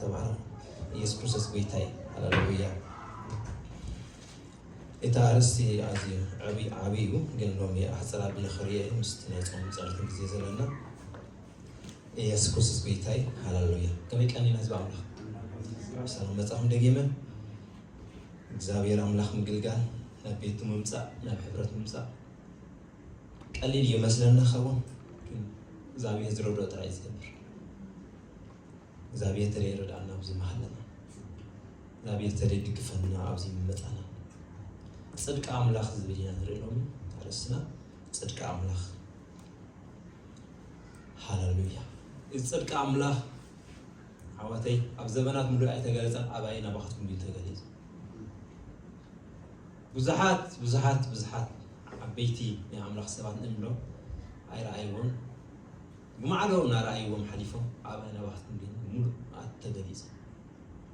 ተባረኽ ኢየሱስ ክርስቶስ ጎይታ እዩ ሃሌሉያ እቲ ኣርእስቲ ኣዝዩ ዓብይ ዓብይ እዩ ግን ሎሚ ኣሕፅር ኣቢለ ክርእዮ እዩ ምስቲ ናይ ፆምን ፀሎትን ግዜ ዘለና ኢየሱስ ክርስቶስ ጎይታ እዩ ሃሌሉያ ከመይ ቀኒና ህዝቢ ኣምላኽ ሰላም መጻኹም ደጊመ እግዚኣብሔር ኣምላኽ ምግልጋል ናብ ቤቱ ምምፃእ ናብ ሕብረት ምምፃእ ቀሊል ይመስለና ከውን ግን እግዛብሄር ዝረድኦ ጥራይ ዝገብር እግዛብሄር ተደይ ረድኣና ኣብዚ መሃለና እግዛብሄር ተደይ ድግፈና ኣብዚ ምመጻና ጽድቂ ኣምላኽ ዝብል ኢና ንርኢ ሎሚ ኣርእስትና ጽድቂ ኣምላኽ ሃለሉያ እዚ ጽድቂ ኣምላኽ ኣሕዋተይ ኣብ ዘበናት ምሉእ ኣይተገለጸን ኣባይ ናባኻትኩም ድዩ ተገሊጹ ብዙሓት ብዙሓት ብዙሓት ዓበይቲ ናይ ኣምላኽ ሰባት ንእሎም ኣይረኣይዎን ብማዕዶ እናረኣይዎም ሓሊፎም ኣብ ኣናብባትኩም ግን ብምሉኣት ተገሊጹ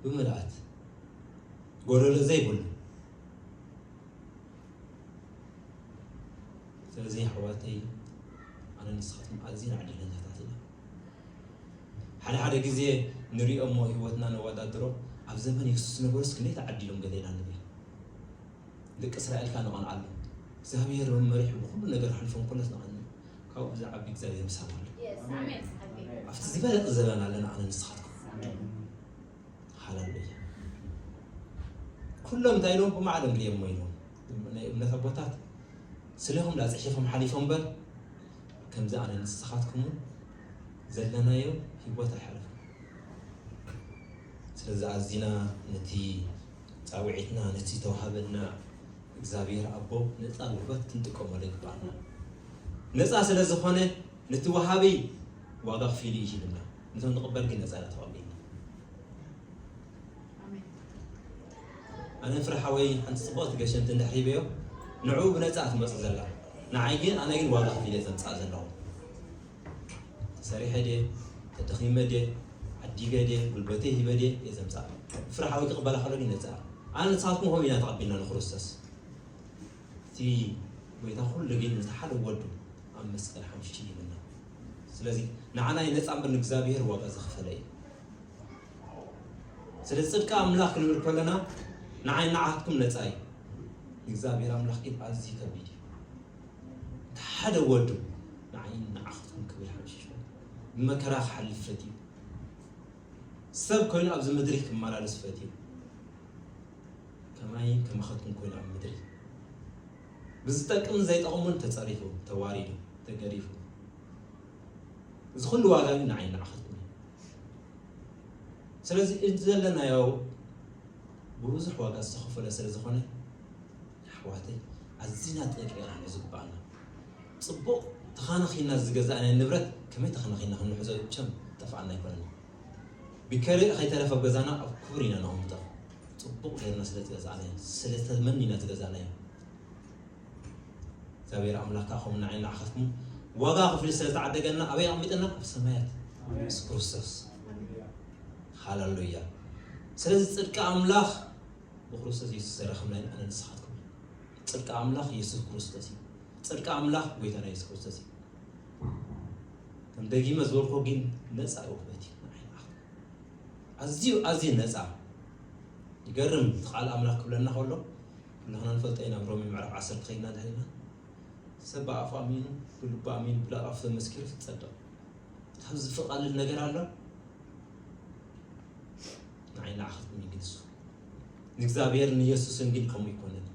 ብምልኣት ጎደሎ ዘይብሉ ስለዚ ኣሕዋተይ ኣነ ንስኻትኩም ኣዝና ዕድለኛታት ኢና ሓደ ሓደ ግዜ ንሪኦ እሞ ህይወትና ነወዳድሮ ኣብ ዘመን የሱስ ዝነበሩስ ክንደይ ተዓዲሎም ገለ ኢና ንብል ደቂ እስራኤል ካኣ ንቐንዓሉ እግዚኣብሄር ውን መሪሑ ብኹሉ ነገር ኣሕልፎም ኩነት ንቐንዕ ካብኡ ብዝዓቢ እግዚኣብሄር ምሳና ኣሎ ኣብቲ ዝበለጸ ዘበን ኣለና ኣነ ንስኻትኩም ሃለሉያ ኩሎም እንታይ ኢሎም ብማዕዶም ድየሞ ኢሎም ናይ እምነት ኣቦታት ስለኹም ዳ ፅሒፎም ሓሊፎም በር ከምዚ ኣነ ንስኻትኩም ዘለናዮ ሂወት ኣይሓለፉ ስለዚ ኣዚና ነቲ ጻውዒትና ነቲ ዝተዋህበና እግዚኣብሔር ኣቦ ነጻ ውህበት ክንጥቀመሉ ይግብኣና። ነጻ ስለ ዝኾነ ነቲ ወሃቢ ዋጋ ክፊሉ እዩ ሂብና ነቶም ንቕበል ግን ነጻ ኢና ተቐቢልና። ኣነ ፍረ ሓወይ ሓንቲ ጽቡቕቲ ገሸንቲ እንድሕር ሂበዮ ንዕኡ ብነጻ ትመጽእ ዘላ ንዓይ ግን ኣነ ግን ዋጋ ክፊለ ዘምጽኣ ዘለኹ ተሰሪሐ ድየ? ተደኺመ ድየ? ዓዲገ ድየ? ጉልበተይ ሂበ ድየ? እየ ዘምጽኣ። ብፍርሓ ወይ ክቕበላ ከሎ ግን ይነጽራ። ኣነ ንስኻትኩም ከምኡ ኢና ተቐቢልና ንክርስቶስ። እቲ ጎይታ ኩሉ ግን ነቲ ሓደ ወዱ ኣብ መስቀል ሓምሽቲ ሂቡና። ስለዚ ንዓና ይነጻ እምበር ንእግዚኣብሄር ዋጋ ዘኸፈለ እዩ። ስለዚ ጽድቂ ኣምላኽ ክንብል ከሎና ንዓይ ንዓኻትኩም ነጻ እዩ። ንእግዚኣብሄር ኣምላኽ ግን ኣዝዩ ከቢድ እዩ። እቲ ሓደ ወዱ ንዓይን ንዓኻትኩን ክብል ሓምሺሹ ብመከራ ክሓልፍ ፈትዩ። ሰብ ኮይኑ ኣብዚ ምድሪ ክመላለስ ፈትዩ። ከማይን ከማኻትኩን ኮይኑ ኣብ ምድሪ ብዝጠቅምን ዘይጠቕሙን ተጸሪፉ፣ ተዋሪዱ፣ ተገሪፉ። እዚ ኩሉ ዋጋ ግን ንዓይን ንዓኻትኩን ስለዚ እቲ ዘለናዮ ብብዙሕ ዋጋ ዝተኸፈለ ስለ ዝኾነ ኣሕዋተይ ኣዚና ጠንቂቅና ንዝግባኣና ጽቡቅ ተኻናኺንና ዝገዛእናዮ ንብረት ከመይ ተኽናኺንና ክንሕዞ ቸም ጠፋኣና ኣይኮነን ቢከርእ ከይተረፈ ኣብ ገዛና ኣብ ኩቡር ኢና ነቅምጦ ጽቡቅ ገርና ስለ ዝገዛእናዮ ስለ ተመኒና ዝገዛእናዮ እግዚኣብሔር ኣምላክ ከኣ ከምኡ ንዓይ ንዓኻትኩም ዋጋ ክፍሊ ስለ ዝተዓደገና ኣበይ ኣቅሚጠና ኣብ ሰማያት ምስ ክርስቶስ ሃለሉያ ስለዚ ጽድቂ ኣምላኽ ብክርስቶስ የሱስ ዘረክብናዩ ኣነ ንስካትኩም እዩ ጽድቂ ኣምላኽ የሱስ ክርስቶስ እዩ ጽድቂ ኣምላኽ ጎይታና የሱስ ክርስቶስ እዩ ከም ደጊመ ዝበልኮ ግን ነፃ ውህበት እዩ ኣዝዩ ኣዝዩ ነፃ ይገርም እቲ ቃል ኣምላኽ ክብለና ከሎ ኩላህና ንፈልጦ ኢና ሮሜ ምዕራፍ ዓሰርተ ከይድና ድሕሪና ሰብ ብኣፉ ኣሚኑ ብልቡ ኣሚኑ ብላኣፉ ተመስኪሩ ትፀድቕ ካብ ዝፍቐልል ነገር ኣሎ ንዓይ ለኣኸትኒ ግን እሱ ንእግዚኣብሔር ንየሱስን ግን ከምኡ ኣይኮነን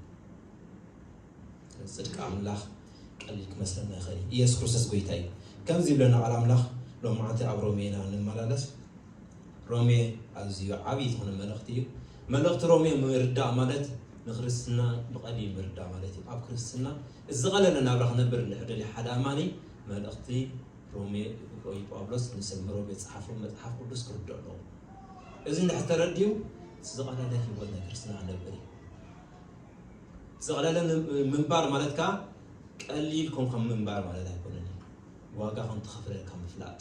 ጽድቂ ኣምላኽ ቀሊል ክመስለና ይኽእል እዩ ኢየሱስ ክርስቶስ ጎይታ እዩ ከምዚ ይብለና ቃል ኣምላኽ ሎም መዓልቲ ኣብ ሮሜ ኢና ንመላለስ ሮሜ ኣዝዩ ዓብዪ ዝኾነ መልእኽቲ እዩ መልእኽቲ ሮሜ ምርዳእ ማለት ንክርስትና ብቐሊል ምርዳእ ማለት እዩ ኣብ ክርስትና እዚ ዝቐለለ ናብራ ክነብር እንድሕር ደልዩ ሓደ ኣማኒ መልእኽቲ ሮሜ ጳውሎስ ንሰብ ሮሜ ዝፀሓፎ መፅሓፍ ቅዱስ ክርድኦ ኣለዎ እዚ እንድሕር ተረዲኡ ዝቐለለ ህይወት ናይ ክርስትና ኣነብር እዩ። ዝቐለለ ምንባር ማለት ከኣ ቀሊል ኮንካ ምንባር ማለት ኣይኮነን እዩ። ዋጋ ከም ተኸፈለልካ ምፍላጥ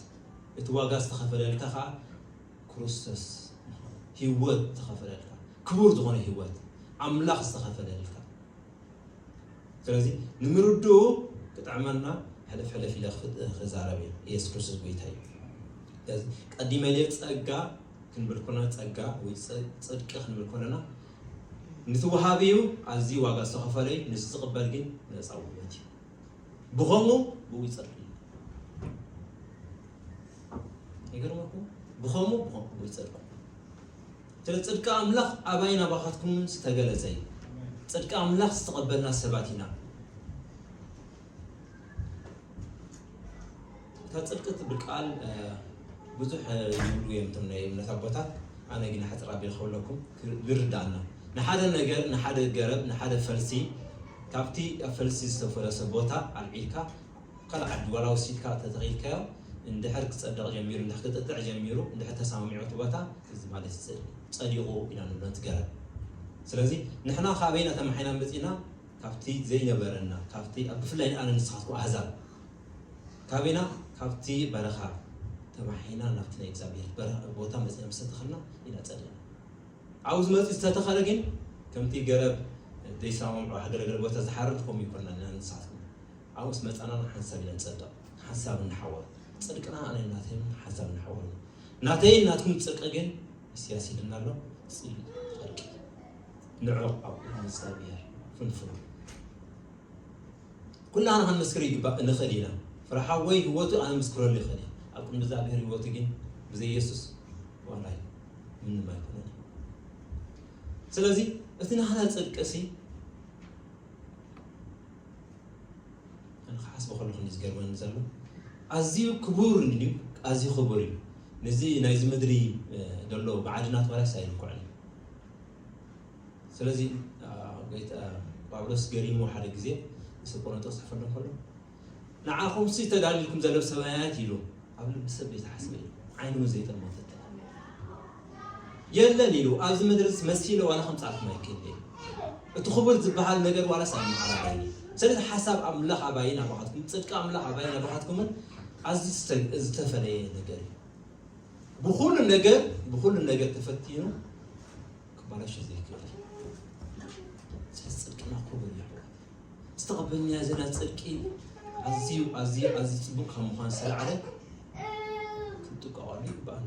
እቲ ዋጋ ዝተኸፈለልካ ከኣ ክርስቶስ ህይወት ዝተኸፈለልካ ክቡር ዝኾነ ህይወት ኣምላኽ ዝተኸፈለልካ ስለዚ ንምርድኡ ክጥዕመና ሕልፍ ሕልፍ ኢለ ክዛረብ እየ ኢየሱስ ክርስቶስ ጎይታ እዩ ስለዚ ቀዲመ ኢለ ፀጋ ክንብል ኮለና ፀጋ ወይ ፅድቂ ክንብል ኮለና ንቲ ወሃቢ እዩ ኣዝዩ ዋጋ ዝተኸፈለ እዩ ንሱ ዝቕበል ግን ነፃ ውበት እዩ ብኸምኡ ብኡ ይፀድቅ እዩ ይገርመኩም ብኸምኡ ብኡ ይፀድቅ ስለ ጽድቂ ኣምላኽ ኣባይን ኣባኻትኩምን ዝተገለጸ እዩ። ጽድቂ ኣምላኽ ዝተቐበልና ሰባት ኢና። እታ ጽድቂ እትብል ቃል ብዙሕ ይብሉ እዮም እቶም ናይ እምነት ኣቦታት። ኣነ ግን ሓጽር ኣቢል ክብለኩም ዝርዳእና ንሓደ ነገር ንሓደ ገረብ ንሓደ ፈልሲ ካብቲ ኣብ ፈልሲ ዝተፈለሰ ቦታ ኣልዒልካ ኣብ ካልእ ዓዲ ዋላ ወሲድካ ተተኺልካዮ እንድሕር ክጸድቕ ጀሚሩ እንድሕር ክጥጥዕ ጀሚሩ እንድሕር ተሰማሚዑ እቲ ቦታ ክዚ ማለት እዩ ጽድቂ ጸዲቑ ኢና ንብሎ ነቲ ገረብ ስለዚ ንሕና ካበይ ኢና ተማሒና መጺእና ካብቲ ዘይነበረና ካብቲ ኣብ ብፍላይ ንኣነ ንስኻትኩም ኣህዛብ ካበይ ኢና ካብቲ በረኻ ተማሒና ናብቲ ናይ እግዚኣብሄር በረኻ ቦታ መጺእና ምስ ተተኸልና ኢና ጸዲቕና ኣብኡ ዝመጽእ ዝተተኸለ ግን ከምቲ ገረብ ዘይሰማምዑ ሃገረ ገለ ቦታ ዝሓርር ከምኡ ይኮና ንኣነ ንስኻትኩም ዓወት መጻና ንሓንሳብ ኢና ንጸድቕ ንሓንሳብ ንሓውር ጽድቅና ኣነን ናተይን ሓንሳብ ንሓውር እዩ ናተይን ናትኩም ጽርቂ ግን ኢስያስ ይልና ኣሎ ጽልኢ ዕርቂ ንዑቕ ኣብ ቅድሚ እዝጋብሄር ፍንፉን እዩ ኩላህና ክንምስክር ይግባእ ንኽእል ኢና ፍረሓወይ ህይወቱ ኣነ ምስክረሉ ይኽእል እየ ኣብ ቅድሚ እዝጋብሄር ህይወቱ ግን ብዘይ የሱስ ዋላይ ምንም ኣይኮነን ስለዚ እቲ ናህና ጽድቂ ሲ ኣነ ክሓስቦ ከለኹ እንዲዩ ዝገርመኒ ዘሎ ኣዝዩ ክቡር እንዲዩ ኣዝዩ ክቡር እዩ ነዚ ናይዚ ምድሪ ዘሎ ብዓድናት ዋላስ ኣይንኩዕን ስለዚ ጳውሎስ ገሪሞ ሓደ ግዜ ምስ ቆሮንጦስ ጽሕፈሉ ከሎ ንዓኹምሲ ተዳልልኩም ዘሎ ሰማያት ኢሉ ኣብ ልቢ ሰብ ዘይተሓስበ እዩ ዓይኑ ዘይጠመተት የለን ኢሉ ኣብዚ ምድርስ መሲለ ዋላ ከምጻልኩም ኣይክእልይ እቲ ክቡር ዝብሃል ነገር ዋላስ ኣይምዓራረይይ ሰለዚ ሓሳብ ኣምላኽ ኣባይን ኣባኻትኩም ጽድቂ ኣምላኽ ኣባይን ኣባኻትኩምን ኣዝዩ ዝተፈለየ ነገር እዩ ብኹሉ ነገር ብኹሉ ነገር ተፈቲኑ ክባላሽ ዘይክእል ስለ ጽድቅና ክቡር እዩ ዝተቐበልና ዘለና ጽድቂ ኣዝዩ ኣዝዩ ኣዝዩ ጽቡቅ ካብ ምዃን ዝተላዕለ ክንጥቀቐሉ ይግባኣና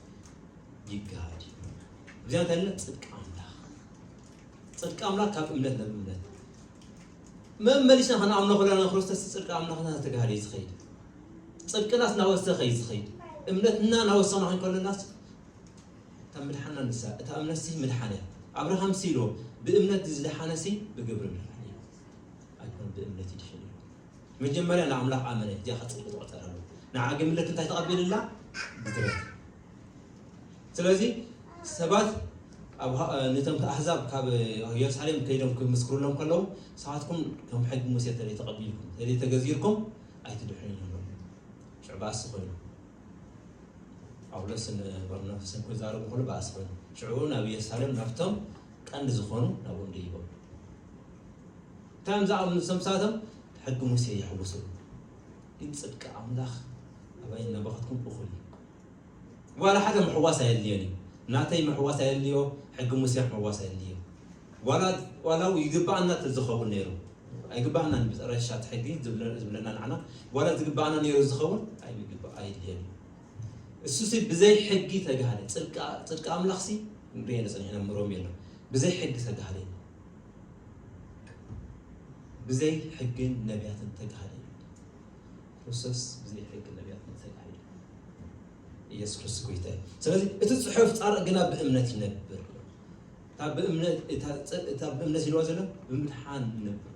ይጋሃድ እዩ። እግዚኦ እንተ ፅድቂ ኣምላኽ ፅድቂ ኣምላኽ ካብ እምነት ናብ እምነት መመሊስና ከነኣምኖ ከለና ንክርስቶስ ፅድቂ ኣምላኽና ተጋሃደ እዩ ዝኸይድ ፅድቅናስ ናወሰኸ እዩ ዝኸይድ እምነትና ናወሰና ኮን ከለናስ እታ ምድሓና ንሳ እታ እምነት ሲ ምድሓነ ኣብርሃም ሲሎ ብእምነት ዝደሓነ ሲ ብግብሪ ምድሓነ ኣይኮን ብእምነት ይድሕን መጀመርያ ንኣምላኽ ኣመነ እዚኣ ከጽብቅ ትቆጸር ኣሎ ንዓ ግን ምልክት እንታይ ተቀቢልላ ብድረት ስለዚ ሰባት ኣብ ነቶም ኣህዛብ ካብ የሩሳሌም ከይዶም ክምስክሩሎም ከለዉ ሰባትኩም ከም ሕጊ ሙሴ ተለ ተቐቢልኩም ተለ ተገዚርኩም ኣይትድሕኑን ኣለዉ ሽዑ ባእሲ ኮይኑ ጳውሎስን በርናባስን ክዛረቡ ከሉ ባእሲ ኮይኑ ሽዑ ናብ የሩሳሌም ናብቶም ቀንዲ ዝኾኑ ናብኦም ደይቦም እንታይ እዮም ዝኣምኑ እሶም ንሳቶም ሕጊ ሙሴ የሕውሱ ግን ጽድቂ ኣምላኽ ኣባይን ናባኻትኩም እኹል እዩ ዋላ ሓደ ምሕዋስ ኣየድልዮን እዩ ናተይ ምሕዋስ ኣየድልዮ ሕጊ ሙሴ ምሕዋስ ኣየድልዮ ዋላ ዋላ ው ይግባኣና ተዝኸውን ነይሩ ኣይግባኣናን ብረሻ እቲ ሕጊ ዝብለና ንዓና ዋላ ዝግባኣና ነይሩ ዝኸውን ኣይግባ ኣየድልዮን እዩ እሱ ሲ ብዘይ ሕጊ ተጋሃደ ጽድቂ ኣምላኽ ሲ ንሪኤ ንጽንሕና ምሮም የሎ ብዘይ ሕጊ ተጋሃደ ብዘይ ሕግን ነቢያትን ተጋሃደ ክርስቶስ ብዘይ ሕግን ነቢያትን ተጋሃደ ኢየሱስ ክርስቶስ ጎይታ እዩ ስለዚ እቲ ጽሑፍ ጻርቕ ግና ብእምነት ይነብር እታ ብእምነት ይነዋ ዘሎ ብምድሓን ይነብር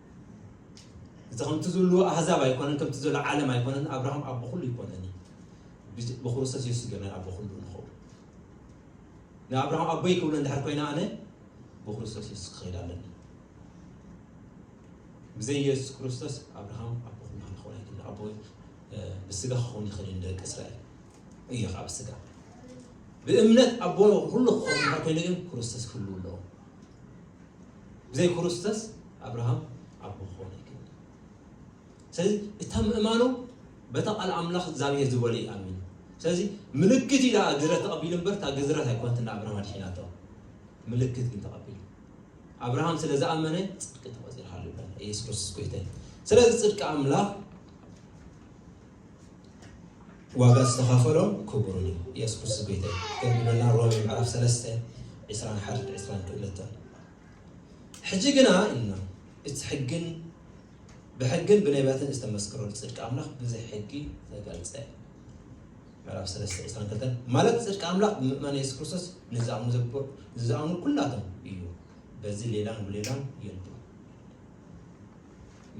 እዚ ከምቲ ዝብልዎ ኣህዛብ ኣይኮነን ከምቲ ዘሎ ዓለም ኣይኮነን ኣብርሃም ኣቦ ኩሉ ይኮነኒ ብክርስቶስ የሱስ ገና ኣቦ ኩሉ ንኸው ንኣብርሃም ኣቦይ ክብሎ እንድሕር ኮይና ኣነ ብክርስቶስ የሱስ ክኸይድ ኣለኒ ብዘይ የሱስ ክርስቶስ ኣብርሃም ኣቦ ኩሉ ክኸውን ኣይክል ኣቦ ብስጋ ክኸውን ይኽእል እዩ ደቂ እስራኤል እዩ ካብ ስጋ ብእምነት ኣቦ ኩሉ ክኸውን እንድሕር ኮይኑ ግን ክርስቶስ ክህልው ኣለዎ ብዘይ ክርስቶስ ኣብርሃም ኣቦ ክኾን ኣይክእልን እዩ። ስለዚ እታ ምእማኑ በታ ቃል ኣምላኽ እግዚኣብሔር ዝበሎ እዩ ኣሚኑ። ስለዚ ምልክት እዩ ደኣ ግዝረት ተቐቢሉ እምበር እታ ግዝረት ኣይኮነትን ንኣብርሃም ኣድሒናቶ። ምልክት ግን ተቐቢሉ ኣብርሃም ስለ ዝኣመነ ጽድቂ ተቖጺርሃሉ ይብለና ኢየሱስ ክርስቶስ ጎይታ እዩ። ስለዚ ጽድቂ ኣምላኽ ዋጋ ዝተኸፈሎ ክቡርን እዩ የሱስ ክርስቶስ ጎይታ እዩ ገርምመና ሮሜ ምዕራፍ ሰለስተ ዕስራን ሓደን ዕስራን ክእለተን ሕጂ ግና ኢልና እቲ ሕግን ብሕግን ብነቢያትን ዝተመስከረሉ ፅድቂ ኣምላኽ ብዘይ ሕጊ ተገልፀ ምዕራፍ ሰለስተ ዕስራን ክልተን ማለት ፅድቂ ኣምላኽ ብምእማን የሱስ ክርስቶስ ንዝኣምኑ ዘብር ንዝኣምኑ ኩላቶም እዩ በዚ ሌላን ብሌላን የሉ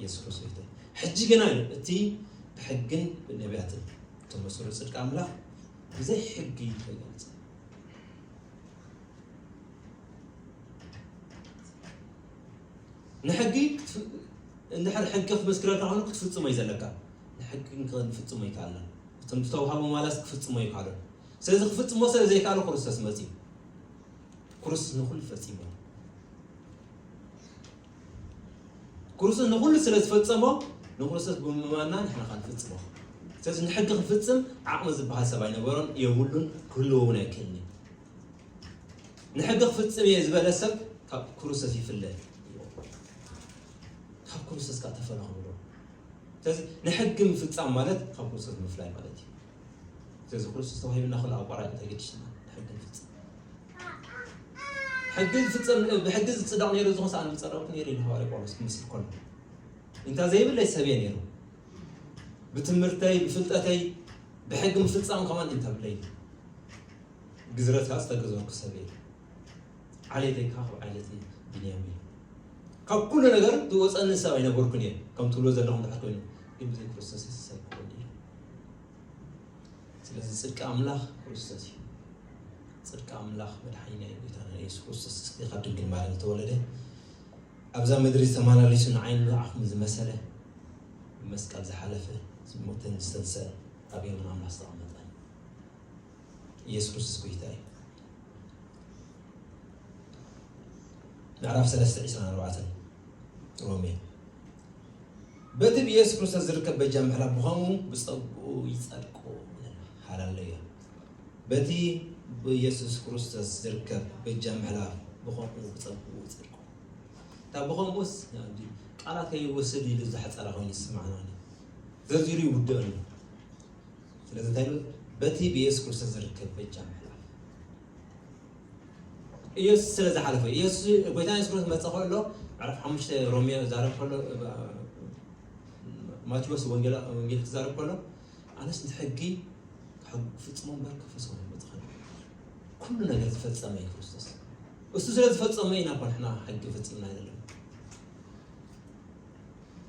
የሱስ ክርስቶስ እዩ። ሕጂ ግና እዩ እቲ ብሕግን ብነቢያትን ተመስሎ ጽድቂ ኣምላኽ ብዘይ ሕጊ እዩ ተገልጸ። ንሕጊ እንድሕር ሕጊ ክትመስክረልካ ኮይኑ ክትፍጽሞ እዩ ዘለካ ንሕጊ ክንፍጽሞ ይከኣልና እቶም ዝተውሃቡ ማላስ ክፍጽሞ ይከኣሉ ስለዚ ክፍጽሞ ስለ ዘይከኣሉ ክርስቶስ መጺኡ ክርስቶስ ንኹሉ ፈጺሙ ክርስቶስ ንኹሉ ስለ ዝፈጸሞ ንክርስቶስ ብምእማንና ንሕና ከ ንፍጽሞ ስለዚ ንሕጊ ክፍጽም ዓቕሚ ዝበሃል ሰብ ኣይነበሮን የብሉን ክህልዎ እውን ኣይክእልን እዩ ንሕጊ ክፍጽም እየ ዝበለ ሰብ ካብ ክርስቶስ ይፍለ ካብ ክርስቶስ ካብ ተፈናኽብሎ ስለዚ ንሕጊ ምፍጻም ማለት ካብ ክርስቶስ ምፍላይ ማለት እዩ ስለዚ ክርስቶስ ተዋሂብና ክሉ ኣቋራጭ ተገዲሽና ንሕጊ ንፍጽም ሕጊ ዝፍጸም ብሕጊ ዝጽደቕ ነይሩ ዝኹን ሰኣን ምጸረቕኩ ነይሩ ኢሉ ሃዋርያ ጳውሎስ ክምስል ከሎ እንታ ዘይብለይ ሰብ እየ ነይሩ ብትምህርተይ ብፍልጠተይ ብሕጊ ምፍጻም ከማን እንታ ብለይ ግዝረት ከዓ ዝተገዘርኩ ሰብ እየ ዓሌተይ ከዓ ካብ ዓሌተይ ብንያም እዩ ካብ ኩሉ ነገር ዝወፀኒ ሰብ ኣይነበርኩን እየ ከም ትብሎ ዘለኹም ድሓር ኮይኑ ግን ብዘይ ክርስቶስ ይስሰብ ክኾን እዩ ስለዚ ጽድቂ ኣምላኽ ክርስቶስ እዩ ጽድቂ ኣምላኽ መድሓኒና እዩ ጌታና ኢየሱስ ክርስቶስ ጽድቂ ካብ ድንግል ማርያም ዝተወለደ ኣብዛ ምድሪ ዝተመላለሱ ንዓይኒ ንዓኹም ዝመሰለ ብመስቀል ዝሓለፈ ዝሞተን ዝተንሰአ ኣብ የመን ኣምላኽ ዝተቐመጠ ኢየሱስ ክርስቶስ ጎይታ እዩ ምዕራፍ 3 24 ሮሜ በቲ ብየሱስ ክርስቶስ ዝርከብ በጃ ምሕራ ብኸምኡ ብጸግኡ ይጸድቁ ሃላለዮ በቲ ብየሱስ ክርስቶስ ዝርከብ በጃ ምሕራ ብኸምኡ ብጸግኡ ይጸድቁ እታ ብኸምኡስ ቃላት ከይወስድ ኢሉ ዝሓፀረ ኮይኑ ይስማዕና ዘዚሩ ይውድእን ስለዚ እንታይ በቲ ብየሱስ ክርስቶስ ዝርከብ በጃ ኢየሱስ ስለ ዝሓለፈ ኢየሱስ ጎይታ ኢየሱስ ክርስቶስ መጸ ከሎ ምዕራፍ ሓሙሽተ ሮሜ ዛረብ ከሎ ማቴዎስ ወንጌል ወንጌል ክዛረብ ከሎ ኣነስ ንሕጊ ክፍጽሞ እምበር ከፈሰው መጽኸል ኩሉ ነገር ዝፈጸመ እዩ ክርስቶስ እሱ ስለ ዝፈጸመ ኢና እኮ ንሕና ሕጊ ፈጺምና አይደለም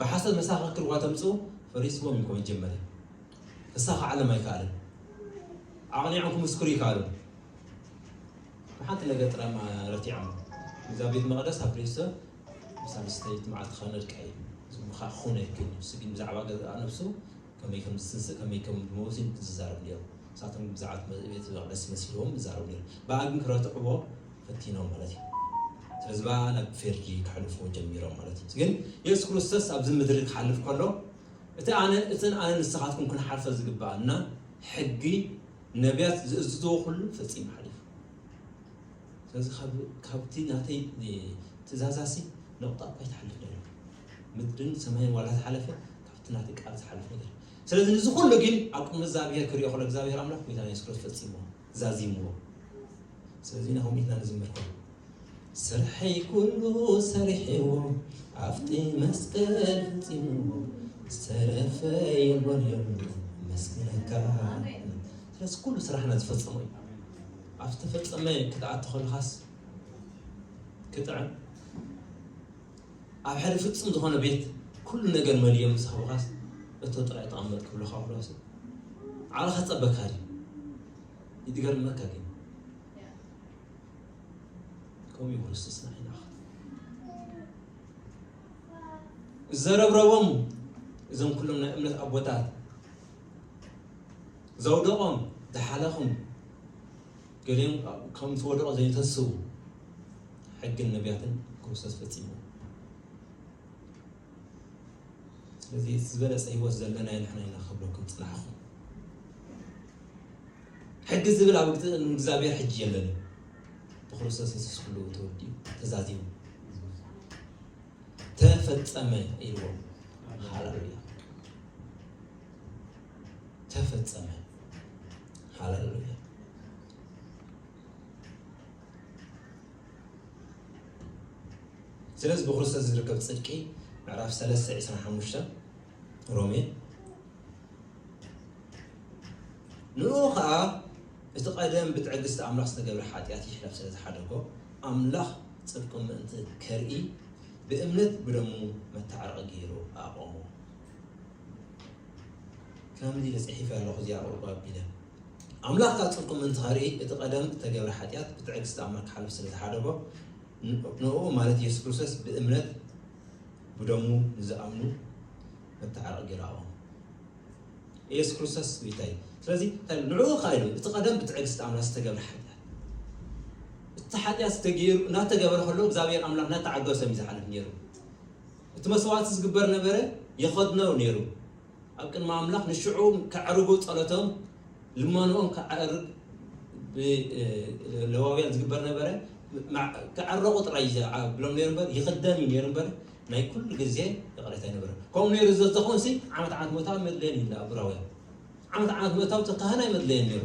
ብሓሶት መሳክክር እኳ ተምጽኡ ፈሪስዎም እዩ እኮ መጀመርያ ክሳካዓሎም ኣይከኣልን ኣቕኒዖም ክምስክሩ ይከኣሉን ብሓንቲ ነገር ጥራይ ረቲዖም እዛ ቤት መቕደስ ኣብ ሬሶ ሳልስተይት መዓልቲ ከነድቃ እዩ ዝምካ ክኾነ ይክእል ንሱ ግን ብዛዕባ ገዛእ ነብሱ ከመይ ከም ዝትንስእ ከመይ ከም ድመውት ኢዮም ዝዛረቡ ኔሮም ንሳቶም ብዛዕባ ቤት መቅደስ መሲልዎም ይዛረቡ ኔሮም ባኣ ግን ክረትዕዎ ፈቲኖም ማለት ኢዩ ስለዚ ባኣ ናብ ፌርዲ ከሕልፍዎ ጀሚሮም ማለት ኢዩ ግን የሱስ ክርስቶስ ኣብዚ ምድሪ ክሓልፍ ከሎ እቲ ኣነ እትን ኣነ ንስኻትኩም ክንሓልፈ ዝግባኣና ሕጊ ነብያት ዝእዝዝዎ ኩሉ ፈጺሙ ሓሊፉ ስለዚ ካብቲ ናተይ ትእዛዛሲ ነቑጣ እኳ ይትሓልፍ ኔሩ ምድርን ሰማይን ዋላ ዝሓለፈ እቲ ናተይ ቃል ዝሓልፍ ነገር ስለዚ ንዚ ኩሉ ግን ኣብ ቅድሚ እግዛብሄር ክሪኦ ከሎ እግዛብሄር ኣምላኽ ጎይታና የሱስ ክርስቶስ ፈጺምዎ ዛዚምዎ ስለዚ ናሆም ኢልና ንዝምር ከሎ ስርሐይ ኩሉ ሰሪሕዎ ኣብቲ መስቀል ፈጺምዎ ዝተረፈ የሎን የሎን መስግነካ ስለዚ ኩሉ ስራሕና ዝፈጸሙ እዩ ኣብ ዝተፈጸመ ክትኣቲ ከለኻስ ክጥዕም ኣብ ሓደ ፍጹም ዝኾነ ቤት ኩሉ ነገር መሊኦም ምስ ሃቡኻስ እቶ ጥራይ ተቐመጥ ክብሉኻ ኩሏሲ ዓቕሊ ከጸበካ ድዩ? ይትገርመካ ግን ከምኡ እዩ ክርስቶስና ይላኽ ዘረብረቦም እዞም ኩሎም ናይ እምነት ኣቦታት ዘውደቖም ዝሓለኹም ገሊኦም ከኣ ከም ዝወደቑ ዘይተስቡ ሕግን ነቢያትን ክርስቶስ ፈጺሙ። ስለዚ እቲ ዝበለጸ ህይወት ዘለና ንሕና ኢና ክብለኩም ጽናሕኹ ሕጊ ዝብል ኣብ እግዚኣብሔር ሕጂ የለን ብክርስቶስ የሱስ ኩሉ ተወዲኡ ተዛዚሙ ተፈጸመ ኢልዎ ሃለሉያ ተፈጸመ። ሃለሉያ። ስለዚ ብክርስቶስ ዝርከብ ጽድቂ ምዕራፍ 3 25 ሮሜ ንኡ ከዓ እቲ ቀደም ብትዕግስቲ ኣምላኽ ዝተገብረ ሓጢኣት ይሕለፍ ስለ ዝሓደጎ ኣምላኽ ጽድቁ ምእንቲ ከርኢ ብእምነት ብደሙ መታዕረቂ ገይሩ ኣቆሞ ከምዚ ኢለ ጽሒፈ ኣለኹ እዚኣ ቁርቁ ኣቢለ። ኣምላኽ ካብ ጽድቁ ምእንቲ ከርኢ እቲ ቀደም እተገብረ ሓጢኣት ብትዕግስቲ ኣምላኽ ክሓልፍ ስለ ዝሓደጎ ንእኡ ማለት ኢየሱስ ክርስቶስ ብእምነት ብደሙ ንዝኣምኑ መተዓረቂ ገራኦ ኢየሱስ ክርስቶስ ጎይታ እዩ ስለዚ ንዕኡ ከዓ ኢሉ እቲ ቀደም ብትዕግስቲ ኣምላኽ ዝተገብረ ሓጢኣት እቲ ሓጢኣት ዝተገይሩ እናተገበረ ከሎ እግዚኣብሔር ኣምላኽ እናተዓገሶም እዩ ዝሓልፍ ነይሩ እቲ መስዋእቲ ዝግበር ነበረ የኸድኖ ነይሩ ኣብ ቅድሚ ኣምላኽ ንሽዑ ከዕርጉ ጸሎቶም ልመንኦም ከዕርግ ለዋውያን ዝግበር ነበረ ከዕረቑ ጥራይ ብሎም ነይሩ እምበር ይኽደን እዩ ነይሩ እምበር ናይ ኩሉ ግዜ ይቕሬታ ይነበረ ከምኡ ነይሩ ዘዝኾን ሲ ዓመት ዓመት መታዊ መድለየን እዩ ኣብራውያን ዓመት ዓመት መታዊ ተካህና ይመድለየን ነይሩ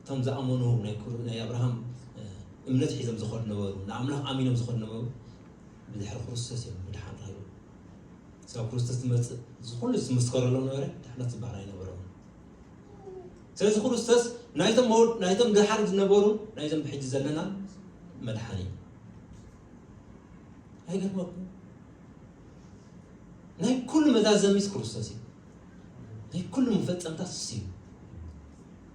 እቶም ዝኣመኑ ናይ ኣብርሃም እምነት ሒዞም ዝኸዱ ነበሩ ንኣምላኽ ኣሚኖም ዝኸዱ ነበሩ ብድሕሪ ክርስቶስ እዮም ምድሓን ረኺቦም ስብ ክርስቶስ ትመፅእ ዝኩሉ ዝምስከረሎም ነበረ ድሕነት ዝበሃል ኣይነበሮም ስለዚ ክርስቶስ ናይቶም ድሓር ዝነበሩ ናይዞም ብሕጂ ዘለና መድሓን እዩ ኣይገርመኩም ናይ ኩሉ መዛዘሚስ ክርስቶስ እዩ ናይ ኩሉ መፈፀምታት እሱ እዩ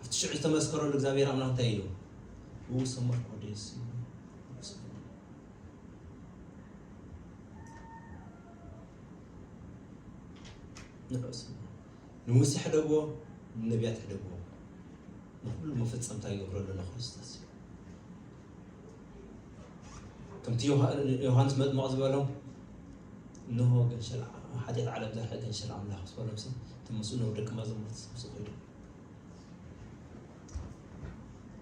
ኣብቲ ሽዑ ዝተመስከረሉ እግዚኣብሔር ኣምላኽ እንታይ ኢሉ ንጉስ ሰሞር ኮዴስ ንዑስ ንሙሴ ሕደግዎ ንነቢያት ሕደግዎ ንኩሉ መፈፀምታ ይገብረሉ ንክርስቶስ እዩ ከምቲ ዮሃንስ መጥምቕ ዝበሎም እንሆ ገንሸል ሓጢኣት ዓለም ዘርሐ ገንሸል ኣምላኽ ዝበሎምሲ እቲ ምስኡ ነብ ደቂ መዛሙርቲ ምስ ኮይዱ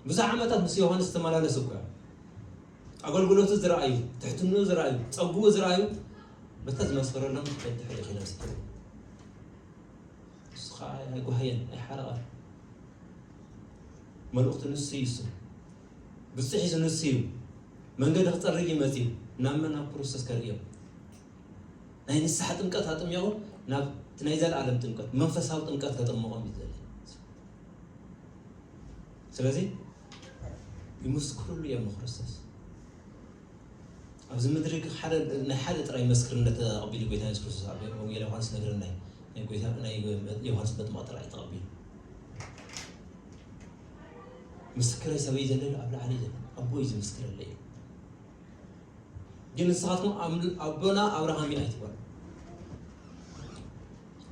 ብዙሕ ዓመታት ምስ ዮሃንስ ዝተመላለሱ እኮ ኣገልግሎቱ ዝረኣዩ ትሕትኑ ዝረኣዩ ፀጉኡ ዝረኣዩ በታ ዝመስከረሎም ድሕሪ ኪነ ስት ንሱ ከዓ ኣይጓሃየን ኣይሓረቐን መልእኽቱ ንሱ ይሱ ግጹ ሒዙ ንሱ እዩ መንገዲ ክጸርግ እዩ መጺኡ ናብ መን ናብ ክርስቶስ ከርእዮም ናይ ንስሓ ጥምቀት ኣጥሚቑ ናብ እቲ ናይ ዘለኣለም ጥምቀት መንፈሳዊ ጥምቀት ከጥምቖም እዩ ዝደሊ ስለዚ ይምስክርሉ እዮም ንክርስቶስ ኣብዚ ምድሪ ናይ ሓደ ጥራይ መስክርነት ተቐቢሉ ጎይታ የሱስ ክርስቶስ ኣብ ወንጌል ዮሃንስ ነገረና ናይ ጎይታ ናይ ዮሃንስ መጥምቕ ጥራይ ተቐቢሉ ምስክረይ ሰበይ ዘለኒ ኣብ ላዕሊ እዩ ዘለኒ ኣቦ እዩ ዝምስክረለይ እዩ ግን ንስኻትኩም ኣምል- ኣቦና ኣብርሃም እዩ ኣይትበሉ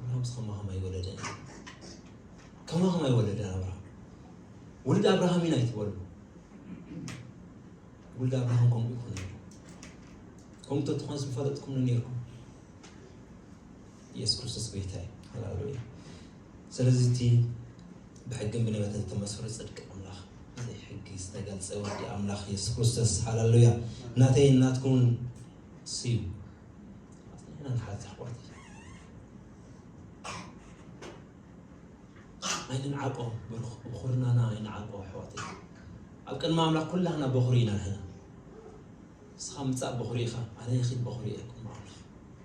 ኣብርሃም ከማኸም ኣይወለደን ከማኸም ኣይወለደን ኣብርሃም ውልድ ኣብርሃም ኢና ኣይትበሉ ውልድ ኣብርሃም ከምኡ ይኮነ ከምኡ ተትኾን ዝፈለጥኩም ነይርኩም ኢየሱስ ክርስቶስ ጎይታ እዩ ሃሌሉያ ስለዚ እቲ ብሕግን ብነብያትን ዝተመስከሮ ጽድቂ ኣምላኽ ብዘይ ሕጊ ዝተገልጸ ወዲ ኣምላኽ የሱስ ክርስቶስ ሃለሉያ ናተይን ናትኩምን ስዩ ኣጽኒዕና ንሓዝ ኣሕዋተይ ኣይንንዓቆ ብኹርናና ኣይንዓቆ ኣሕዋተይ ኣብ ቅድሚ ኣምላኽ ኩላህና በኹሪ ኢና ንሕና ንስኻ ምጻእ በኹሪ ኢኻ ኣነ ይኺድ በኹሪ እየ ቅድሚ ኣምላኽ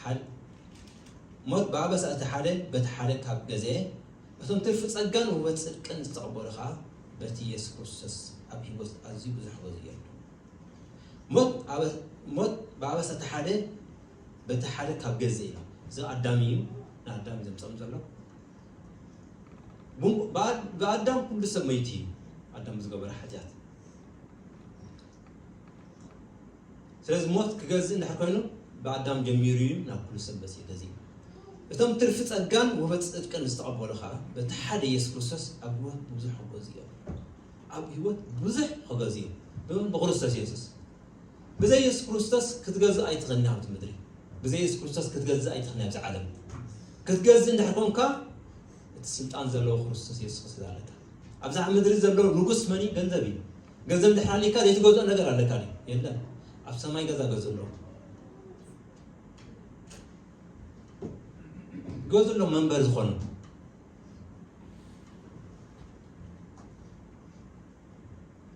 ሓድ ሞት ብኣበሳ እቲ ሓደ በቲ ሓደ ካብ ገዘ እቶም ትርፊ ጸጋን ውህበት ጽድቅን ዝተቐበሉ ከኣ በቲ ኢየሱስ ክርስቶስ ኣብ ሕይወት ኣዝዩ ብዙሕ ገዙ የሉ ሞት ሞት ብኣበሳ እቲ ሓደ በቲ ሓደ ካብ ገዘ ኢሎም እዚ ኣዳም እዩ ንኣዳም ዘምጸም ዘሎ ብኣዳም ኩሉ ሰብ መይቱ እዩ ኣዳም ዝገበረ ሓጢኣት ስለዚ ሞት ክገዝእ እንድሕር ኮይኑ ብኣዳም ጀሚሩ እዩ ናብ ኩሉ ሰብ በጺሑ ገዚኡ። እቶም ትርፊ ጸጋን ውህበት ጽድቅን ዝተቐበሉ ከኣ በቲ ሓደ የሱስ ክርስቶስ ኣብ ህይወት ብዙሕ ክገዝኡ እዮም። ኣብ ህይወት ብዙሕ ክገዝኡ እዮም። ብመን? ብክርስቶስ የሱስ። ብዘይ የሱስ ክርስቶስ ክትገዝእ ኣይትኽእልን ኣብቲ ምድሪ። ብዘይ የሱስ ክርስቶስ ክትገዝእ ኣይትኽእልን ኣብዚ ዓለም። ክትገዝእ እንድሕር ኮንካ እቲ ስልጣን ዘለዎ ክርስቶስ የሱስ ክትገዝእ ኣለካ። ኣብዛ ምድሪ ዘሎ ንጉስ መን እዩ? ገንዘብ እዩ። ገንዘብ እንድሕር ኣልካ ዘይትገዝኦ ነገር ኣለካ ድዩ የለን ኣብ ሰማይ ገዛ ገዝሎም ገዝሎም መንበሪ ዝኾኑ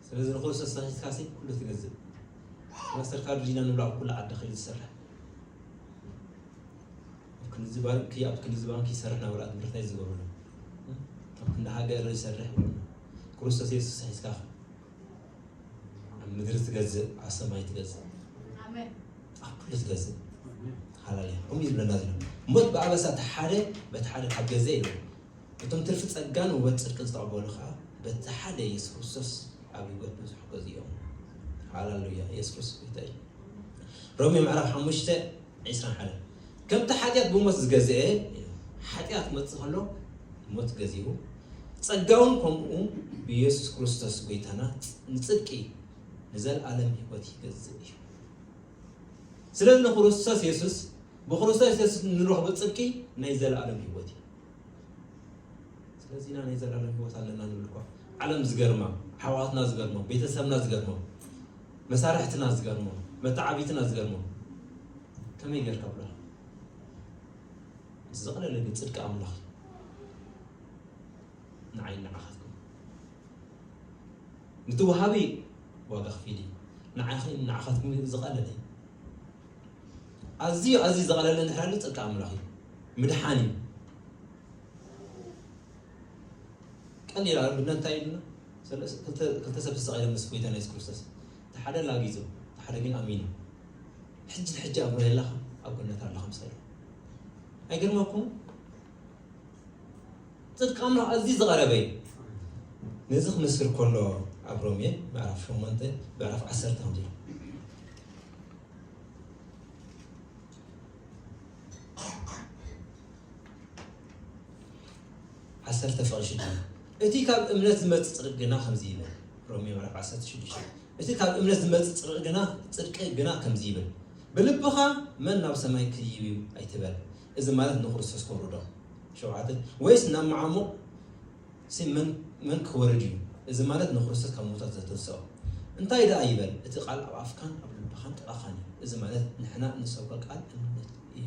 ስለዚ ንክርስቶስ ተኺስካ ሲ ኩሉ ትገዝእ ማስተር ካርድ ዲና ንብላ ኣብ ኩሉ ዓዲ ክል ዝሰርሕ ኣብ ክንዲ ባንኪ ኣብ ክንዲ ባንኪ ይሰርሕ ናብራ ምርታይ ዝገብሩ ኣብ ክንዲ ሃገር ይሰርሕ ክርስቶስ የሱስ ሒዝካ ከ ኣብ ምድሪ ትገዝእ ኣብ ሰማይ ትገዝእ ኣብ ኩሉ ትገዝእ ሃላልያ ከምኡ እዩ ዝብለና ዘሎ ሞት ብኣበሳ እቲ ሓደ በቲ ሓደ ካብ ገዘ ኢሉ እቶም ትርፊ ጸጋን ውበት ጽድቂ ዝተቐበሉ ከዓ በቲ ሓደ የሱስ ክርስቶስ ኣብ ህይወት ብዙሕ ገዝ እዮም ሃላሉያ የሱስ ክርስቶስ ጎይታ እዩ ሮሜ ምዕራፍ ሓሙሽተ ዒስራን ሓደን ከምቲ ሓጢኣት ብሞት ዝገዘኤ ኢሉ። ሓጢኣት ክመጽእ ከሎ ሞት ገዚኡ፣ ጸጋውን ከምኡ ብየሱስ ክርስቶስ ጎይታና ንጽድቂ ንዘልኣለም ህይወት ይገዝእ እዩ። ስለዚ ንክርስቶስ የሱስ ብክርስቶስ የሱስ እንረኽቦ ጽድቂ ናይ ዘለኣለም ህይወት እዩ። ስለዚ ኢና ናይ ዘለኣለም ህይወት ኣለና ንብል እኮ ዓለም ዝገርማ፣ ኣሕዋትና ዝገርሞም፣ ቤተሰብና ዝገርሞም መሳርሕትና ዝገርሞ መተዓብይትና ዝገርሞ ከመይ ጌርካ ብሏል እቲ ዘቕለለ ግን ጽድቂ ኣምላኽ እዩ ንዓይ ንዓኻትኩም ንቲ ወሃቢ ዋጋ ክፊል እዩ ንዓኺ ንዓኻትኩም ግን ዝቐለለ እዩ ኣዝዩ ኣዝዩ ዘቐለለ ንሕራሉ ጽድቂ ኣምላኽ እዩ ምድሓን እዩ ቀሊል ኣብነት እንታይ ኢሉና ክልተ ሰብ ተሰቂሎም ምስ ጎይታ ኢየሱስ ክርስቶስ እቲ ሓደ ላጊጹ እቲ ሓደ ግን ኣሚኑ ሕጂ ሕጂ ኣብ ምህላኻ ኣብ ጎነት ኣለኻ ምስ በለ ኣይገርመኩም ጽድቂ ኣምላኽ ኣዝዩ ዝቐረበ እዩ ነዚ ክምስክር ከሎ ኣብ ሮሜ ምዕራፍ ሸሞንተ ምዕራፍ ዓሰርተ ከምዚ ኢሉ ዓሰርተ ፍቕሪ ሽዱሽተ እቲ ካብ እምነት ዝመጽእ ጽድቂ ግና ከምዚ ይብል ሮሜ ምዕራፍ ዓሰርተ ሽዱሽተ እቲ ካብ እምነት ዝመጽእ ጽድቂ ግና ጽድቂ ግና ከምዚ ይብል ብልብኻ መን ናብ ሰማይ ክይብ እዩ ኣይትበል እዚ ማለት ንክርስቶስ ከውርዶ ሸውዓተ ወይስ ናብ መዓሙቕ ሲ መን መን ክወርድ እዩ እዚ ማለት ንክርስቶስ ካብ ምውታት ዘተንስኦ እንታይ ደኣ ይበል እቲ ቃል ኣብ ኣፍካን ኣብ ልብኻን ጥቓኻን እዩ እዚ ማለት ንሕና ንሰብከ ቃል እምነት እዩ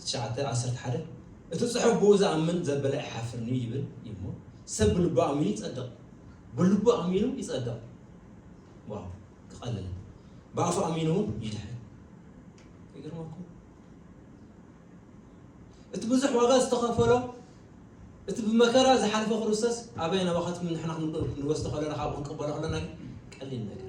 ትሽዓተ ዓሰርተ ሓደ እቲ ጽሑፍ ብኡ ዝኣምን ዘበለ ኣይሓፍርን እዩ ይብል እዩ እሞ ሰብ ብልቡ ኣሚኑ ይጸድቕ ብልቡ ኣሚኑ ይጸድቕ ዋው ክቐልል ብኣፉ ኣሚኑ እውን ይድሕን ይገርመኩም እቲ ብዙሕ ዋጋ ዝተኸፈሎ እቲ ብመከራ ዝሓለፈ ክርስቶስ ኣበይ ናባኻትኩም ንሕና ክንወስዶ ከለና ካብኡ ክንቅበሎ ከለና ቀሊል ነገር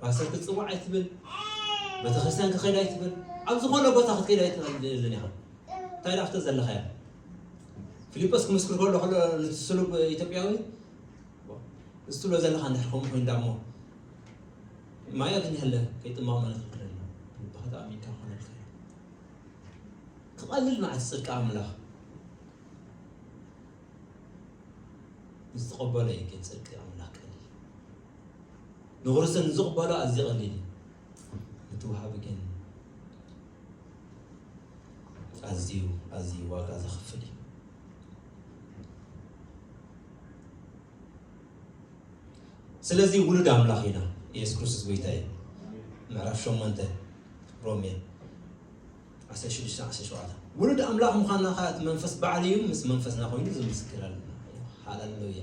ፓስተር ክትጽዋዕ ኣይትብል፣ በተክርስትያን ክኸይድ ኣይትብል፣ ኣብ ዝኾነ ቦታ ክትከይድ ኣይትኽእልን ኢኻ። እንታይ ደኣ ኣብቲ ዘለኻዮ ፊልጶስ ክምስክር ከሎ ከሎ ነቲ ስሉብ ኢትዮጵያዊ እዚ ትብሎ ዘለኻ እንድሕር ከምኡ ኮይኑ ዳሞ ማይ ኣግኝሃለ ከይጥማቕ ማለት ይኽእል ኣሎ ልብኻ ተኣሚንካ ክኾነ ይኽእል ክቐልል መዓት ጽድቂ ኣምላኽ ምስ ተቐበሎ እዩ ግን ጽድቂ ኣምላኽ ቀሊል ንክርስቶ ንዝቕበሎ ኣዝዩ ቀሊል እዩ፣ ነቲ ወሃቢ ግን ኣዝዩ ኣዝዩ ዋጋ ዘኽፍል እዩ። ስለዚ ውሉድ ኣምላኽ ኢና ኢየሱስ ክርስቶስ ጎይታ እዩ ምዕራፍ 8 ሮሜ 1617 ውሉድ ኣምላኽ ምዃንና ከዓ እቲ መንፈስ ባዕሉ እዩ ምስ መንፈስና ኮይኑ ዝምስክረልና ሃለሉያ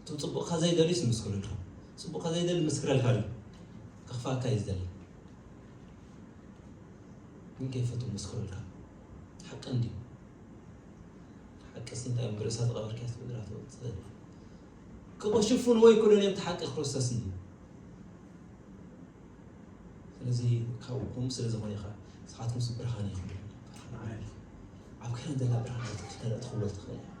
እቶም ጽቡቕካ ዘይደልዩስ ይምስክሩልካ። ጽቡቕካ ዘይደሊ ክምስክረልካ ድዩ? ከኽፍኣካ እዩ ዝደሊ። ግን ከይፈትዉ ይምስክሩልካ። ሓቂ እንድዩ። ሓቂስ እንታይ እዮም ብርእሳ ዝቐበርካያ ትብድራ ትወጽእ። ክቕሽፉን ወይ ኩለን እዮም እቲ ሓቂ ክርስቶስ እንድዩ። ስለዚ ካብኡኩም ስለ ዝኾነ ኢኻ ንስኻትኩም ስ ብርሃን ኢኹም ብርሃን ዓለም ኢኹም። ኣብ ከረን ዘላ ብርሃን ክትክተለ ትኽወል ትኽእል እያ።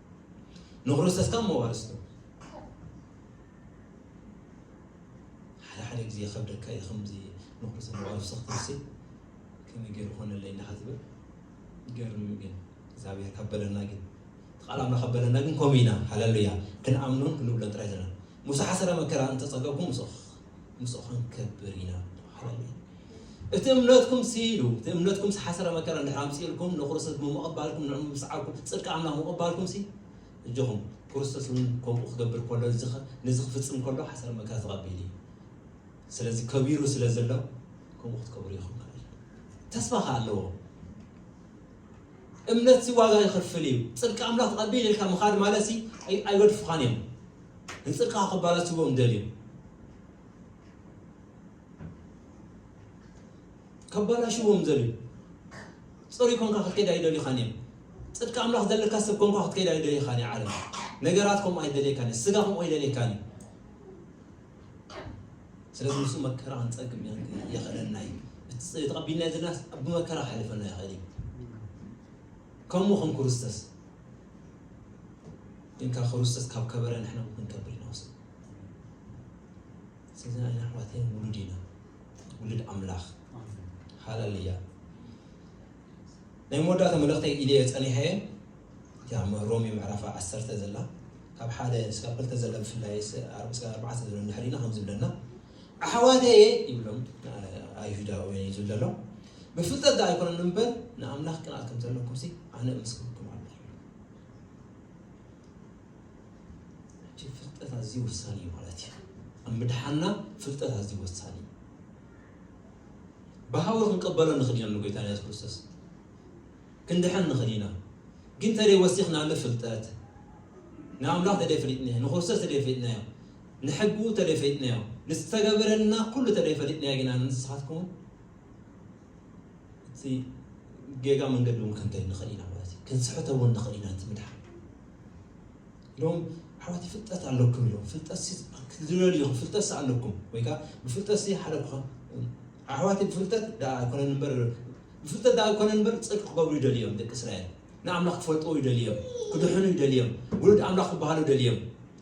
ንክርስቶስ ካብ መዋርስቱ ሓደ ሓደ ግዜ ከብደካ እዩ ከምዚ ንክርስቶስ መዋርስቱ ክትርሲ ከመይ ገይሩ ኮነለይ እንዳ ክትብል ገርም ግን እግዚኣብሔር ካበለና ግን ቃል ኣምላኽ ኣበለና ግን ከምኡ ኢና ሃለሉያ ክንኣምኖን ክንብሎን ጥራይ ዘለና ሙሳ ሓሰረ መከራ እንተፀገብኩም ምስ ምስኡ ክንከብር ኢና። ሃለሉያ! እቲ እምነትኩምሲ ኢሉ እቲ እምነትኩምሲ ሓሰረ መከራ እንድሕር ኣምጺኡልኩም ንክርስቶስ ብምቕባልኩም ንዕኡ ብምስዓብኩም ጽድቂ ኣምላኽ ምቕባልኩምሲ እጆኹም ክርስቶስ እውን ከምኡ ክገብር ከሎ ነዚ ክፍጽም ከሎ ሓሰረ መከራ ተቐቢሉ እዩ። ስለዚ ከቢሩ ስለ ዘሎ ከምኡ ክትከብሩ ኢኹም ማለት እዩ። ተስፋ ከ ኣለዎ። እምነትሲ ዋጋ ይኸፍል እዩ። ጽድቂ ኣምላኽ ተቐቢል ኢልካ ምኻድ ማለትሲ ኣይ- ኣይገድፉኻን እዮም። ንጽልካ ክባላስዎም ደልዮም ከባላሽዎም ደልዮም ጽሩይ ኮንካ ክትከይድ ኣይደልኻን እዮም ጽድቂ ኣምላኽ ዘለካ ሰብ ኮንካ ክትከይድ ኣይደልኻን እዩ ዓለም ነገራት ከምኡ ኣይደልየካን እዩ ስጋ ከምኡ ኣይደልየካን እዩ ስለዚ ንሱ መከራ ክንጸግም የኽእለና እዩ እቲ ተቐቢልና ዘለናስ ኣብ መከራ ክሕልፈና ይኽእል እዩ ከምኡ ከም ክርስቶስ እንካ ክርስቶስ ካብ ከበረ ንሕና እውን ክንከብር ኢና ወሰን ስለዚ ንሕና ኣሕዋተይ ውሉድ ኢና ውሉድ ኣምላኽ ሃለልያ ናይ መወዳእታ መልእኽተይ ኢልየ ጸኒሐየ እቲያ ሮሜ ምዕራፍ ዓሰርተ ዘላ ካብ ሓደ ስካብ ክልተ ዘላ ብፍላይ ኣርባዕተ ዘሎ ንድሕሪና ከም ዝብለና ኣሕዋተየ ይብሎም ንኣይሁዳውያን እዩ ዝብል ዘሎ ብፍልጠት ዶ ኣይኮነን እምበር ንኣምላኽ ቅንኣት ከም ዘለኩም ሲ ኣነ እምስክርኩም ኣሎ ይብሎም ፍልጠት ኣዝዩ ወሳኒ እዩ ማለት እዩ ኣብ ምድሓና ፍልጠት ኣዝዩ ወሳኒ እዩ ብሃዊ ክንቀበሎ ንኽእል ኢና ንጎይታ የሱስ ክርስቶስ ክንድሕን ንኽእል ኢና ግን ተደይ ወሲኽናሉ ፍልጠት ንኣምላኽ ተደይ ፍሊጥናዮ ንክርስቶስ ተደይ ፍሊጥናዮ ንሕጉ ተደይፈሊጥናዮ ንዝተገበረልና ኩሉ ተደይፈሊጥናዮ ግና ንስኻትኩምን እቲ ጌጋ መንገዲ እውን ክንከይድ ንኽእል ኢና ማለት እዩ ክንስሕተ እውን ንኽእል ኢና እቲ ምድሓን ኢሎም ኣሕዋት ፍልጠት ኣለኩም ኢሎም ፍልጠት ክትድለልዩ ፍልጠት ኣለኩም ወይ ከዓ ብፍልጠት ሓደ ኣሕዋት ብፍልጠት ደኣ ኣይኮነን እምበር ብፍልጠት ደኣ ኣይኮነን እምበር ፅድቂ ክገብሩ ይደልዮም ደቂ እስራኤል ንኣምላኽ ክፈልጥዎ ይደልዮም ክድሕኑ ይደልዮም ውሉድ ኣምላኽ ክበሃሉ ደልዮም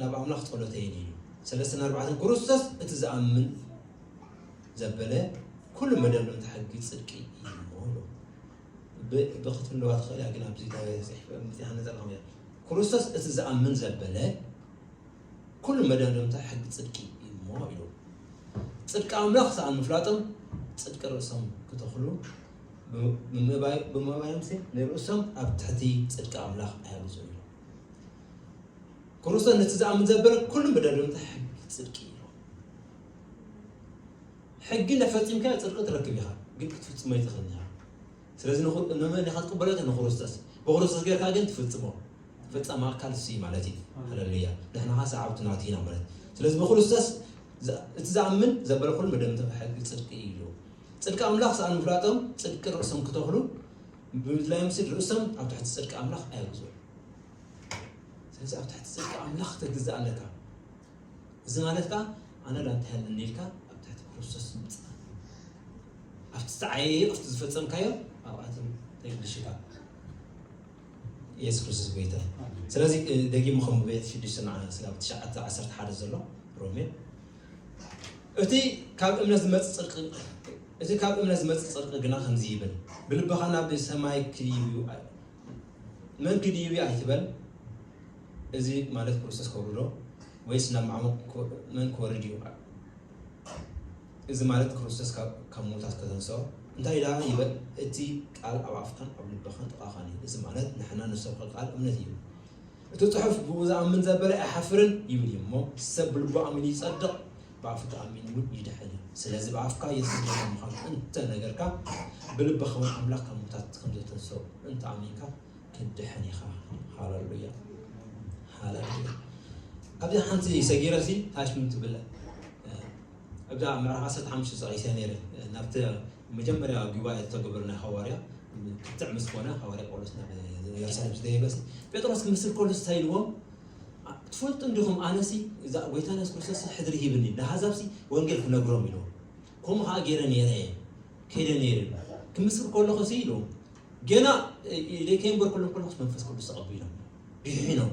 ናብ ኣምላኽ ጸሎተ የኒኑ ሰለስተን ኣርባዕተን ክርስቶስ እቲ ዝኣምን ዘበለ ኩሉ መደብ እንተ ሕጊ ጽድቂ ይሞሉ ብክትፍለዋ ትኽእል እያ ግን ኣብዚ ተጽሒፈ ምጽሓነ ዘለኹም እያ ክርስቶስ እቲ ዝኣምን ዘበለ ኩሉ መደብ እንተ ሕጊ ጽድቂ ይሞ ኢሉ ጽድቂ ኣምላኽ ሰኣን ምፍላጦም ጽድቂ ርእሶም ክተኽሉ ብምባዮም ንርእሶም ኣብ ትሕቲ ጽድቂ ኣምላኽ ኣያብዙ ክርስቶስ ነቲ ዝኣምን ዘበለ ኩሉ ምደድምታ ሕጊ ፅድቂ እዩ ሕጊ እንዳፈፂምካዮ ፅድቂ ትረክብ ኢኻ ግን ክትፍፅሞ ይትኽእል ኢኻ ስለዚ ንመን ኢኻ ትቅበሎ ንክርስቶስ ብክርስቶስ ጌርካ ግን ትፍፅሞ ፈፃሚ ኣካል እሱ ማለት እዩ ሃለሉያ ንሕና ኸ ሰዓብቱ ናቱ ኢና ማለት ስለዚ ብክርስቶስ እቲ ዝኣምን ዘበለ ኩሉ መደምተ ሕጊ ፅድቂ እዩ ጽድቂ ኣምላኽ ሰኣን ምፍላጦም ጽድቂ ርእሶም ክተኽሉ ብምድላዮም ስል ርእሶም ኣብ ትሕቲ ጽድቂ ኣምላኽ ኣየውዝዑን። ስለዚ ኣብ ትሕቲ ጽድቂ ኣምላኽ ክትግዛእ ኣለካ። እዚ ማለት ከዓ ኣነ ዳ እንተሃለኒ ኢልካ ኣብ ትሕቲ ክርስቶስ ምጽኣ ኣብቲ ዝዓየ ይቕርቲ ዝፈጸምካዮ ኣብኣቶም ተግልሽካ የሱስ ክርስቶስ ጎይታ እዩ። ስለዚ እ፣ ደጊሙ ከም ብቤት ሽዱሽተ ንዓ ስጋብ ትሽዓተ ዓሰርተ ሓደ ዘሎ ሮሜ እቲ ካብ እምነት ዝመጽእ ጽድቂ ግና ከምዚ ይብል፣ ብልብኻ ናብ ሰማይ ክድይብዩ መን ክድይብዩ ኣይትበል፣ እዚ ማለት ክርስቶስ ከውርዶ ወይስ ናብ ማዕሙቕ መን ክወርድ እዩ? እዚ ማለት ክርስቶስ ካብ ምዉታት ከተንስኦ እንታይ ደኣ ይበል፣ እቲ ቃል ኣብ ኣፍካን ኣብ ልብኻን ጥቓኻን እዩ። እዚ ማለት ንሕና ንሰብከ ቃል እምነት እዩ። እቲ ጽሑፍ ብእኡ ዝኣምን ዘበለ ኣይሓፍርን ይብል እዩ እሞ ሰብ ብልቡ ኣሚኑ ይጸድቕ ብኣፉ ተኣሚኑ እውን ይድሕን እዩ ስለዚ ብኣፍካ የሱስ ጌታ ምዃኑ እንተ ነገርካ ብልብኻ እውን ኣምላኽ ካብ ሙታት ከም ዘተንሰኡ እንተ ኣሚንካ ትድሕን ኢኻ ሃለሉያ ሃለሉያ ኣብዚ ሓንቲ ሰጊረሲ ታሽ ምን ትብለ እብዛ ምዕራፍ ዓሰርተ ሓሙሽተ ጠቒሰያ ነይረ። ናብቲ ኣብ መጀመርያ ጒባኤ ዝተገበረ ናይ ሃዋርያ ክትዕ ምስ ኮነ ሃዋርያ ጳውሎስ ናብ የሩሳሌም ምስ ደየበሲ ጴጥሮስ ክምስል ከሎ እንታይ ኢልዎም ትፈልጡ እንዲኹም ኣነሲ እዛ ጐይታና የሱስ ክርስቶስ ሕድሪ ሂብኒ ንኣሕዛብሲ ወንጌል ክነግሮም ኢልዎም ከምኡ ከዓ ገይረ ነይረ እየ ከይደ ነይረ ክምስል ከለኹሲ ኢልዎም ገና ኢለ ከይንበርኩሎም ከለኹስ መንፈስ ቅዱስ ተቐቢሎም ቢሒኖም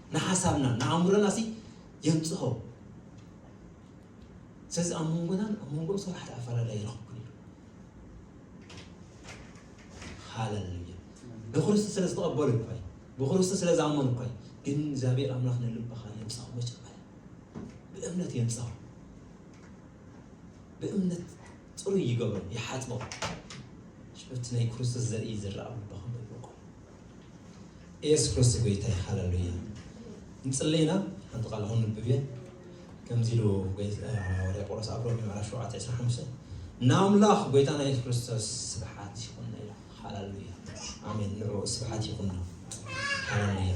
ንሓሳብናን ንኣእምሮና ሲ የንጽሆ ስለዚ ኣብ መንጎናን ኣብ መንጎ ሰብ ሓደ ኣፈላላይ ይረኽብኩን እዩ ሃለሉያ ብክርስቶስ ስለ ዝተቐበሉ እኳ እዩ ብክርስቶስ ስለ ዝኣመኑ እኳ እዩ ግን እግዚኣብሔር ኣምላኽ ንልብኻ የንጽሆ መጀመርያ ብእምነት የንጽሆ ብእምነት ጽሩይ ይገብሮ ይሓጽቦ ሽበቲ ናይ ክርስቶስ ዘርኢ ዝረኣ ልብኻ ኢየሱስ ክርስቶስ ጎይታ እዩ ሃለሉያ እንጽለይ ኢና ሓንቲ ቃል ክንንብብ እየ ከምዚ ኢሉ ሃዋርያ ጳውሎስ ኣብ ሮሜ ምዕራፍ 7 25 ንኣምላኽ ጎይታና ኢየሱስ ክርስቶስ ስብሓት ይኹን ኢላ ሃለሉያ ኣሜን ንዕኡ ስብሓት ይኹን ሃለሉያ